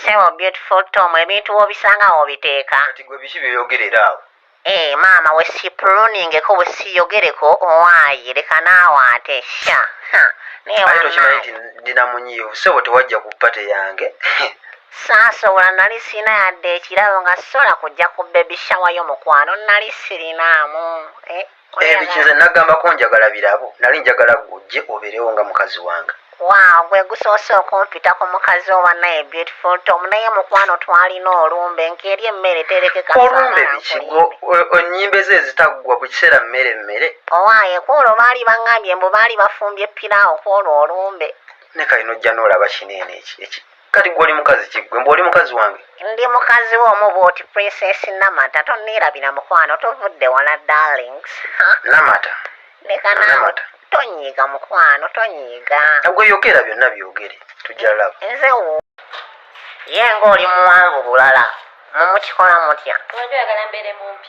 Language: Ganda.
Sebo beautiful Tom ebintu wobisanga wobiteeka. Kati gwe biki byoyogerera awo? Eh maama we sipuluningeko we siyogereko owaaye leka naawe ate sha ha naye Ate tokimanyi wanaye nti ndina munyiivu ssebo tewajja ku pate yange. saasobola nali sirina yadde ekirabo nga sisobola kujja ku baby shower yo mukwano nali sirinaamu eh. ebiki nze nagambako njagala birabo nali njagala gujje oberewo nga mukazi wange waaw gwe gusoose okumpita ku mukazi owa naye beautiful tom naye mukwano twalina olumbe nkeeri emmere terekeka olumbe biki onyimba ezo ezitaggwa buli kiseera mmere mmere owaaye kwolwo baali bangambye mbu baali bafumbye piraawo kwolwo olumbe ne kali nojja noolaba kineene eki kati gwe oli mukazi ki gwe mbu oli mukazi wange ndi mukazi wo omu bwoti princess namata tonneerabira mukwano tovudde wala darlings Ha, namata leka naawe Namata. tonyiiga mukwano tonyiiga gwe yogera byonna byogere tujja laba nze wo ye ng'oli muwanvu bulala mumukikola mutya Wali oyagala mbeere mumpi.